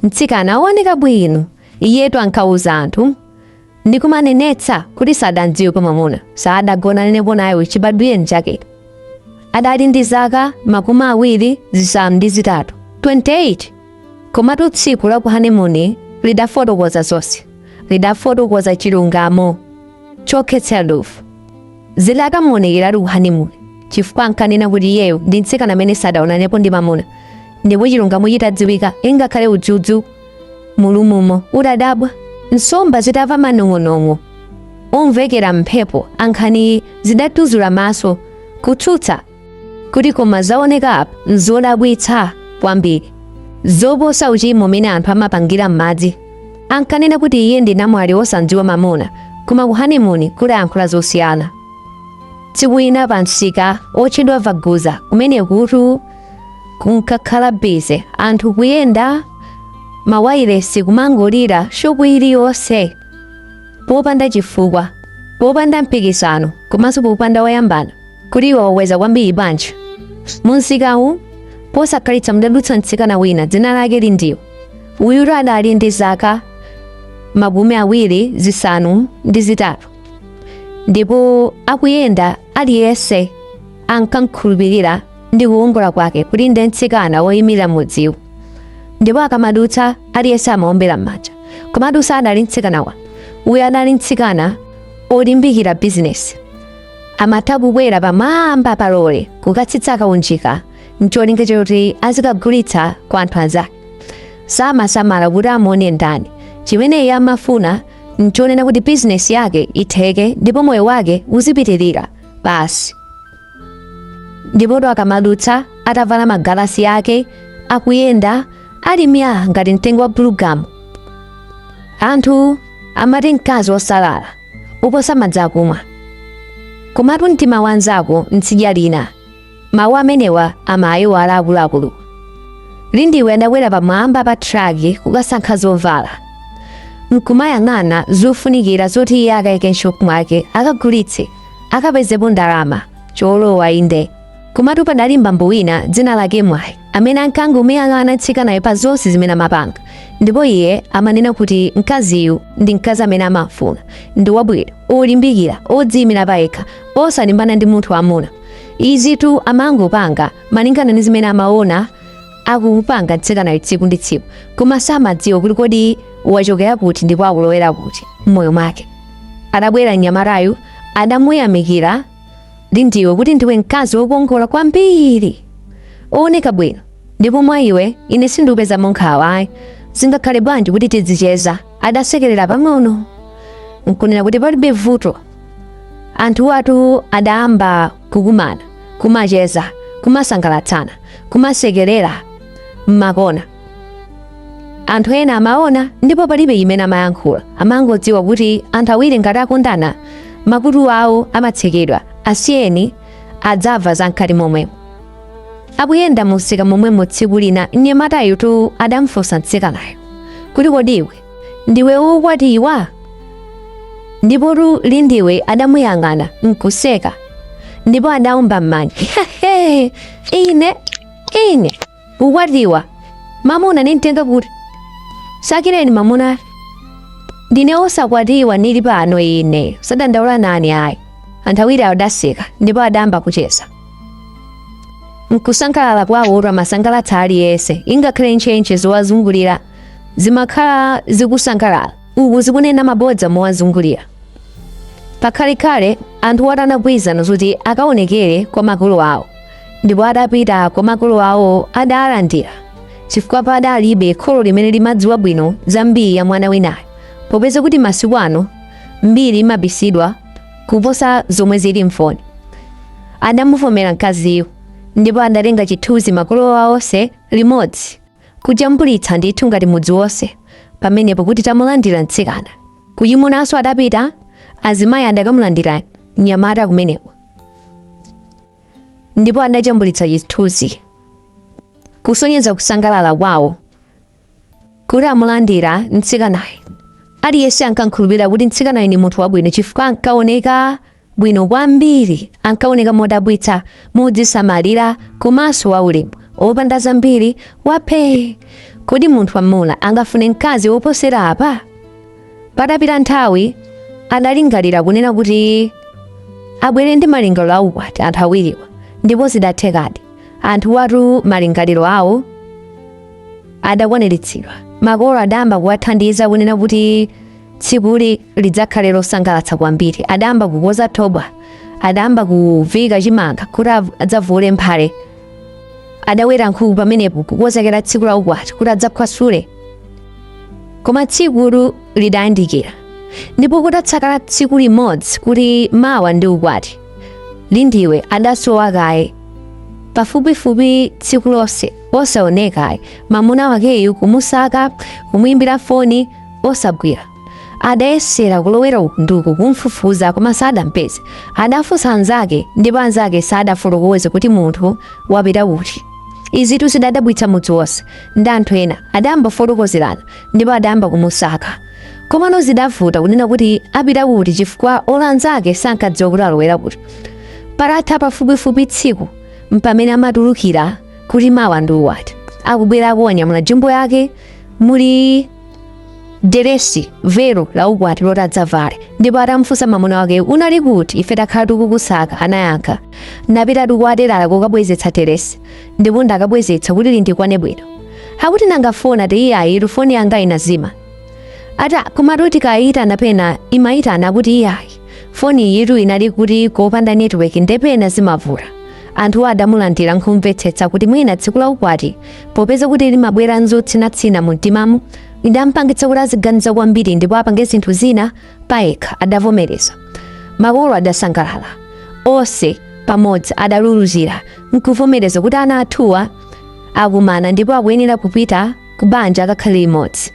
Mtsikana wooneka bwino, iyetu ankauza anthu ndi kumanenetsa kuti sadamdziwepo mwamuna, sadagonanenepo naye chibadwire chake. Adali ndi zaka makumi awiri zisanu ndi zitatu 28 komatu tsiku la ku honeymoon lidafotokoza zonse, lidafotokoza chilungamo chokhetsera dovu. zili atamuonekeratu ku honeymoon chifukwa ankanena kuti iyeyo ndi mtsikana amene sadaonanepo ndi mamuna ndipo chilungamo chitadziwika ingakhale udzudzu mulumumo udadabwa nsomba zitamva manong'onong'o omvekera m'mphepo a nkhaniyi zidatuzula maso kutsutsa kuti koma zaoneka apa nzodabwitsa kwambiri zoposa uchimo umene anthu amapangira m'madzi ankanena kuti iye ndi namwali wosamdziwa mamuna koma ku honeymoon kudayankhula zosiyana tsiku lina pa msika otchedwa vaguza kumenekutu kunkakhala busy anthu kuyenda mawayilesi kumangolira shopu iliyonse popanda chifukwa popanda mpikisano komanso popanda wayambana Kuti iwe wakweza kwambiri bwanji? Mumsikawu posakhalitsa mudadutsa mtsikana wina dzina lake Lindiwe. Uyutu adali ndi zaka makumi awiri zisanu ndi zitatu ndipo akuyenda aliyense ankamkhulupirira ndi kukongola kwake kuti ndi mtsikana woyimira mudziwo ndipo akamadutsa aliyense amaombera m'manja komatu sadali mtsikana wamba uyu adali mtsikana olimbikira bizinesi amatha kubwera pamwamba pa lole kukatsitsa kaunjika ncholinga choti azikagulitsa kwa anthu anzake samasamala kuti amuone ndani chimene iye amafuna nchonena kuti bizinesi yake itheke ndipo moyo wake uzipitirira basi ndipotu akamadutsa atavala magalasi ake akuyenda ali mya ngati mtengo wa bulugamu anthu amati mkazi wosalala kuposa madzi akumwa komatu mtima wa mnzako ntsidya lina mawu amenewa amayiwala akuluakulu lindiwe adakwera pamwamba pa traki kukasankha zovala nkumayang'ana zofunikira zoti iye akaike m'shopu mwake akagulitse akapezepo ndalama cholowa inde komatu padali bambo wina dzina lake mwayi amene ankangomuyang'ana mtsikanayo pa zonse zimene amapanga ndipo iye amanena kuti mkaziyu ndi mkazi amene amafuna ndi wabwino olimbikira odziyimira payekha osalimbana ndi munthu wammuna izitu amangopanga malingana ndi zimene amaona akupanga mtsikanayo tsiku ndi tsiku koma samadziwa kuti kodi wachokera kuti ndipo akulowera kuti m'moyo mwake adabwera mnyamatayu adamuyamikira Lindiwe kuti ndiwe mkazi wokongola kwambiri owoneka bwino ndipo mwa iwe ine sindikupeza mankhawa ayi zingakhale bwanji kuti tidzicheza adasekerera pang'ono nkunena kuti palibe vuto anthuwatu adayamba kukumana kumacheza kumasangalatsana kumasekerera mmakona anthu ena amaona ndipo palibe imene amayankhula amangodziwa kuti anthu awiri ngati akondana makutu awo amatsekedwa asiyeni adzamva za mkati momwemo akuyenda mumsika momwemo tsiku lina mnyamatayu tu adamfunsa mtsikanayo kuti kodi iwe ndiwe wokwatiwa ndipotu lindiwe adamuyang'ana nkuseka ndipo adaumba m'manja ine ine kukwatiwa mamuna nimtenga kuti nsakireni mamuna ndine osakwatiwa nili pano ine usadandaula nani ayi anthu awiri adaseka ndipo adayamba kucheza nkusangalala kwawo kumasangalatsa aliyense ingakhale ntchentche zowazungulira zimakhala zikusangalala uku zikunena mabodza mowazungulira pakhalekhale anthuwatu anagwirizana zoti akaonekere kwa makolo awo ndipo adapita kwa makolo awo adawalandira chifukwa padalibe kholo limene limadziwa bwino za mbiri ya mwana winayo popeza kuti masiku ano mbiri imabisidwa kuposa zomwe zili mfoni adamuvomera mkaziyo ndipo adatenga chithunzi makolo awo onse limodzi kujambulitsa ndithu ngati mudzi wonse pamenepo kuti tamulandira mtsikana kuchimunanso adapita azimayi adakamulandira mnyamata kumeneko ndipo adajambulitsa chithunzi kusonyeza kusangalala kwawo kuti amulandira mtsikanayo aliyense ankankhulupirira kuti mtsikanayo ni munthu wabwino chifukwa ankaoneka bwino kwambiri. Ankaoneka modabwitsa, modzisamalira komanso waulemu, wopanda zambiri, waphee. Kodi munthu wamwamuna angafune mkazi woposera apa? Patapita nthawi, adalingalira kunena kuti abwere ndi malingaliro aukwati anthu awiriwa, ndipo zidathekadi. Anthuwatu malingaliro awo adakwaniritsidwa. Makolo adayamba kuwathandiza kunena kuti tsikuli lidzakhale losangalatsa kwambiri adayamba kukonza thobwa adayamba kuviika chimanga kuti adzavule mphale adaweta nkhuku pamenepo kukonzekera tsiku la ukwati kuti adzakhwasule koma tsikuli lidayandikira ndipo kutatsala tsiku limodzi kuti mawa ndi ukwati lindiwe adasowa kaye pafupifupi tsiku lonse osaoneka ayi mamuna wakeyu kumusaka kumuimbira foni osagwira adayesera kulowera uku ndi uku kumfufuza koma sadampeze adafunsa anzake ndipo anzake sadafotokoze kuti munthu wapita kuti izitu zidadabwitsa mudzi wonse ndi anthu ena adayamba kufotokozerana ndipo adayamba kumusaka komano zidavuta kunena kuti apita kuti chifukwa olo anzake sankadziwa kuti alowera kuti patatha pafupifupi tsiku mpamene amatulukira kuti mawa ndi ukwati akubwera atanyamula jumbo yake muli deresi velo la ukwati loti adzavale ndipo atamfunsa mamuna wake unali kuti ife takhala tikukusaka anayankha napita kwa telala kukabwezetsa deresi ndipo ndakabwezetsa kuti lindikwane bwino akuti nanga foni ati iyayi foni yanga inazima ati komatu tikayitana pena imayitana kuti iyayi foniyitu inali kuti kopanda network nde pena zimavuta anthu adamulandira nkumvetsetsa kuti mwina tsiku la ukwati popeza kuti limabwera nzotsinatsina mu mtimamu idampangitsa kuti aziganiza kwambiri ndipo apange zinthu zina payekha adavomereza makolo adasangalala onse pamodzi adaluluzira nkuvomereza kuti ana athuwa akumana ndipo akuyenera kupita ku banja akakhale limodzi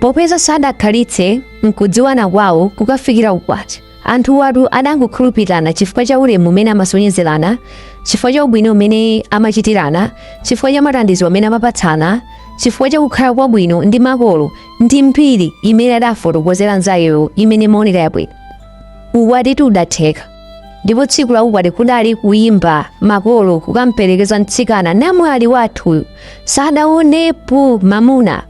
popeza sadakhalitse nkudziwana kwawo kukafikira ku ukwati Anthuwatu adangokhulupirirana chifukwa cha ulemu umene amasonyezerana, chifukwa cha ubwino umene amachitirana, chifukwa cha mathandizo amene amapatsana, chifukwa cha kukhala kwabwino ndi makolo ndi mbiri imene adafotokozera nzakeyo imene imaoneka yabwino. Ukwatitu udatheka. Ndipo tsiku la ukwati kudali kuyimba makolo kukamperekeza mtsikana namwali wathuyu sadaonepo mamuna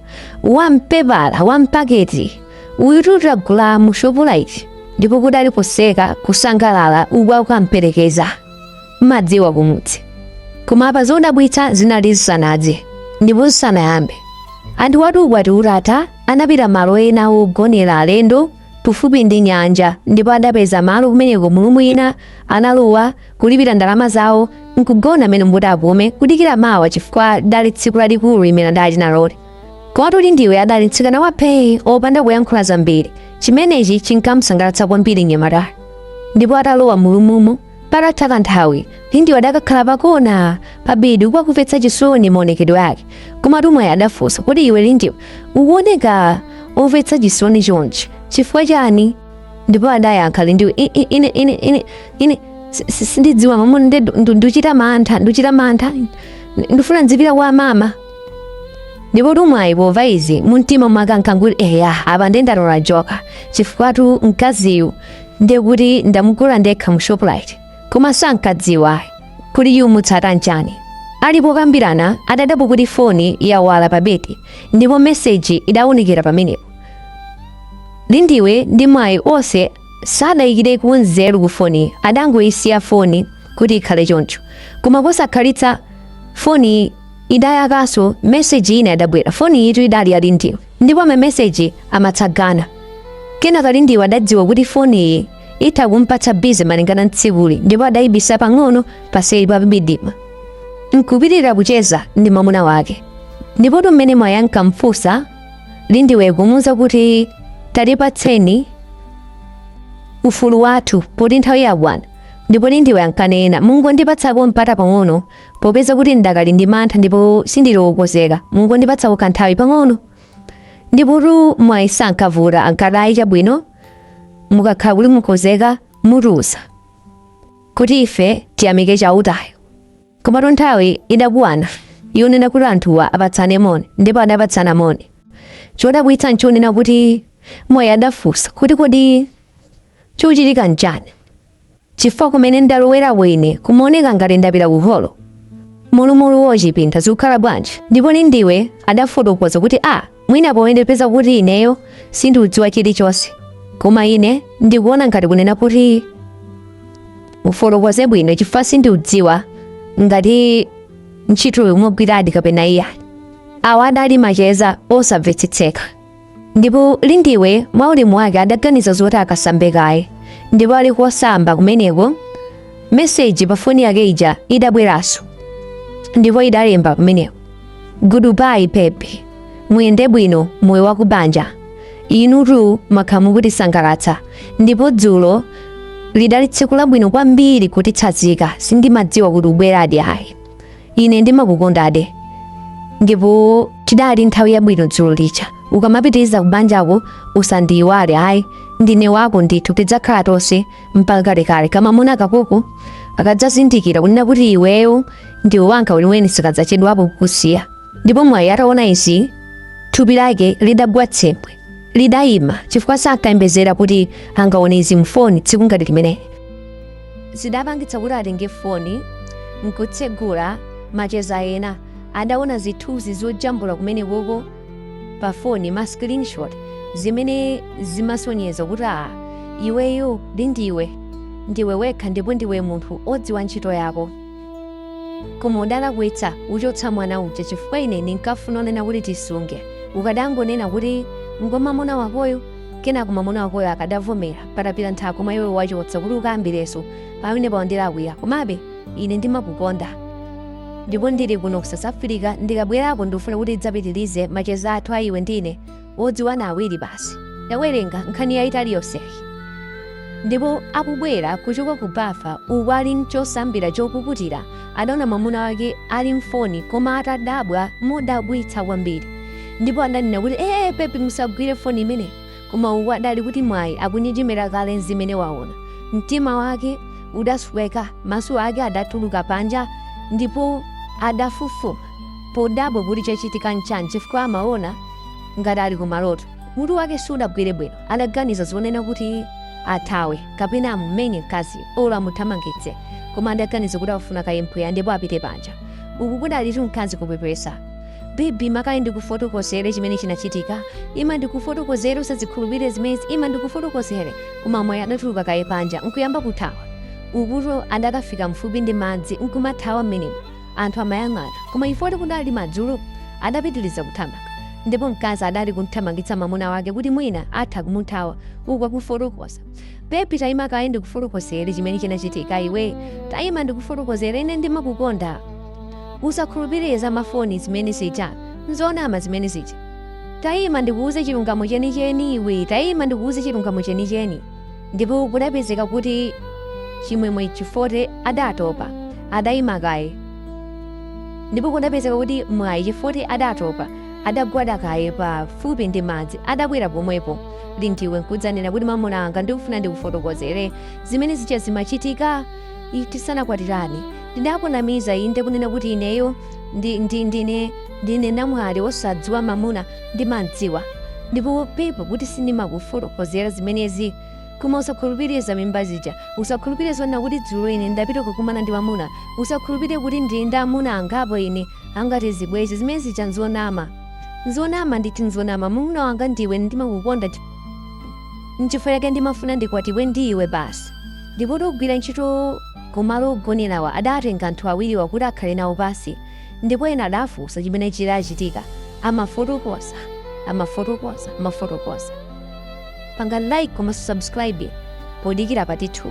wampepala wampaketi uyutu tagula mu Shoprite ndipo kudali kuseka kusangalala uku akamperekeza mmadziwa kumudzi koma apa zodabwitsa zinali zisanadze ndipo zisanayambe anthuwatu ukwati utatha anapita malo ena ogonera alendo pafupi ndi nyanja ndipo adapeza malo kumeneko mu room ina analowa kulipira ndalama zawo nkugona mmenemo kuti apume kudikira mawa chifukwa lidali tsiku lalikulu limene adali naloli Komatu Lindiwe adali mtsikana wa phee opanda kuyankhula zambiri. Chimenechi chinkamsangalatsa kwambiri mnyamata. Ndipo atalowa mu room-mo, patatha kanthawi, Lindiwe adakakhala pakona pabedi uku akumvetsa chisoni maonekedwe ake. Komatu Mwayi adafunsa kuti iwe Lindiwe ukuoneka omvetsa chisoni chonchi chifukwa chani? Ndipo adayankha Lindiwe "I- i- ine ine ine ine si- si- sindidziwa mamuna ndi ndu- nduchita mantha nduchita mantha ndifuna ndzipita kwa mama ndipotu mwayi pomva izi mumtima mwake ankangoti eya apa nde ndatola joka chifukwatu mkaziyu nde kuti ndamugula ndekha mu shoprite koma sankadziwa kuti chomutsata nchani ali pokambirana adadabwa kuti foni yawala pa bedi ndipo meseji idawunikira pamenepo lindiwe ndi mwayi onse sadayikireko nzeru ku foni adangoyisiya foni kuti ikhale choncho koma posakhalitsa foni idayakanso meseji ina idabwera foniyitu idali ya lindiwe ndipo mameseji amatsagana kenaka lindiwe adadziwa kuti foniyi itha kumpatsa bize malingana ntsikuli ndipo adayibisa pang'ono paseli pa bibidima nkupitirira kucheza ndi mwamuna wake ndipotu mmene mwayi ankamfunsa lindiwe kumuwuza kuti tatipatseni ufulu wathu poti nthawi yakwana ndipo lindiwe ankanena mungondipatsapo mpata pang'ono Popeza kuti ndakali ndi mantha ndipo sindili wokonzeka, mungondipatsako kanthawi pang'ono. Ndipotu mwayi sankavuta ankati ayi chabwino mukakhala kuti mwakonzeka mutiuza kuti ife tiyamike chautayo. Komatu nthawi idakwana yonena kuti anthuwa apatsane moni ndipo adapatsana moni. Chodabwitsa nchonena kuti mwayi adafunsa kuti kodi chochitika nchani? chifukwa kumene ndalowerako ine kumaoneka ngati ndapita ku holo mulumulu wochipinda zikukhala bwanji ndipo lindiwe adafotokoza kuti a ah, mwina poyendepeza kuti ineyo sindiudziwa chilichonse koma ine ndikuona ngati kunena kuti ufotokoze bwino chifukwa sindiudziwa ngati ntchitoyo mwagwiradi kapena iyayi awa adali macheza osamvetsetseka Ndipo Lindiwe mwa ulemu wake adaganiza zoti akasambe kaye, ndipo ali kosamba kumeneko meseji pa foni yake ija idabweranso, ndipo idalemba kumeneko goodbye baby muyende bwino moyo wa kubanja inutu mumakhala mukutisangalatsa ndipo dzulo lidali tsiku labwino kwambiri kutitsanzika sindimadziwa kuti ubweradi ayi ine ndimakukondadi ndipo tidali nthawi yabwino dzulo lija ukamapitiriza kubanjako usandiyiwale ayi ndine wako ndithu tidzakhala tonse mpaka kalekale kamamuna kakoko kakadzazindikira kunena kuti iweyo ndiwe wanga weniweni sikadzachedwapo kukusiya ndipo mwayi ataona izi thupi lake lidagwa tsembwe lidayima chifukwa sankayembezera kuti angaone izi mfoni tsiku ngati limeneli zidapangitsa kuti atenge foni nkutsegula macheza ena adaona zithunzi zojambula kumenekoko pa foni ma screenshot zimene zimasonyeza kuti a iweyo lindiwe ndiwe wekha ndipo ndiwe munthu odziwa ntchito yako koma udalakwitsa uchotsa mwana uja chifukwa ine ndinkafuna unena kuti tisunge ukadangonena kuti ngwa mamuna wakoyo kenako mamuna wakoyo akadavomera patapita nthawi koma iwe wachotsa kuti ukambirenso pamenepa wandilakwira komabe ine ndimakukonda ndipo ndili kuno ku south africa ndikabwerako ndikufuna kuti tidzapitirize macheza athu a iwe ndi ine odziwana awiri basi adawerenga nkhani yayitali yonseyi ndipo akubwera kuchoka ku bafa uku ali mchosambira chopukutira adaona mamuna wake ali mfoni koma atadabwa modabwitsa kwambiri ndipo adanena kuti ee bebi musagwire foni imeneyo koma uku adali kuti mwayi akunjenjemera kale zimene waona mtima wake udasweka maso ake adatuluka panja ndipo adafufuma podabwa kuti chachitika nchani chifukwa amaona ngati ali kumaloto mutu wake sudagwire bwino adaganiza zonena kuti athawe kapena amumenye mkazi olo amuthamangitse koma adaganiza kuti afuna kaye mpweya ndipo apite panja uku kudalitu mkazi kupepesa bebi ima kaye ndikufotokozere chimene chinachitika ima ndikufotokozere usazikhulupirire zimenezi ima ndikufotokozere koma mwayi adatuluka kaye panja nkuyamba kuthawa ukuto adakafika mfupi ndi madzi nkumathawa mmenemo anthu amayang'ana koma chifukwa choti kudali madzulo adapitiriza kuthamanga ndipo mkazi adali kumthamangitsa mamuna wake kuti mwina atha kumuthawa uku akufotokoza bebi tayima kaye ndikufotokozere chimene chinachitika iwe tayima ndikufotokozere ine ndimakukonda usakhulupirire za mafoni zimene zija nzonama zimene zija tayima ndikuuze chilungamo chenicheni iwe tayima ndikuuze chilungamo chenicheni ndipo kudapezeka kuti chimwemwe chifukwa choti adatopa adayima kaye ndipo kudapezeka kuti mwayi chifukwa choti adatopa adagwada kaye pafupi ndi madzi adabwera pomwepo lindiwe nkudzanena kuti mamuna anga ndikufuna ndikufotokozere zimene zija zimachitika i- tisanakwatirane ndidakunamiza inde kunena kuti ineyo ndi- ndi- ndine ndine namwali wosadziwa mamuna ndimamdziwa ndipo pepa kuti sindimakufotokozera zimenezi koma usakhulupirire za mimba zija usakhulupirire zonena kuti dzulo ine ndapita kukumana ndi mamuna usakhulupirire kuti ndili ndi amuna angapo ine angati zibwezi zimene zija nzonama nzonama nditi nzonama mamuna wanga ndiwe ndimakukonda chi- nchifukwa chake ndimafuna ndikwatiwe ndi iwe basi ndipotu ogwira ntchito kumalo ogonerawa adatenga anthu awiriwa kuti akhale nawo pansi ndipo ena adafunsa chimene chidachitika amafotokoza amafotokoza amafotokoza panga like komanso subscribe podikira part 2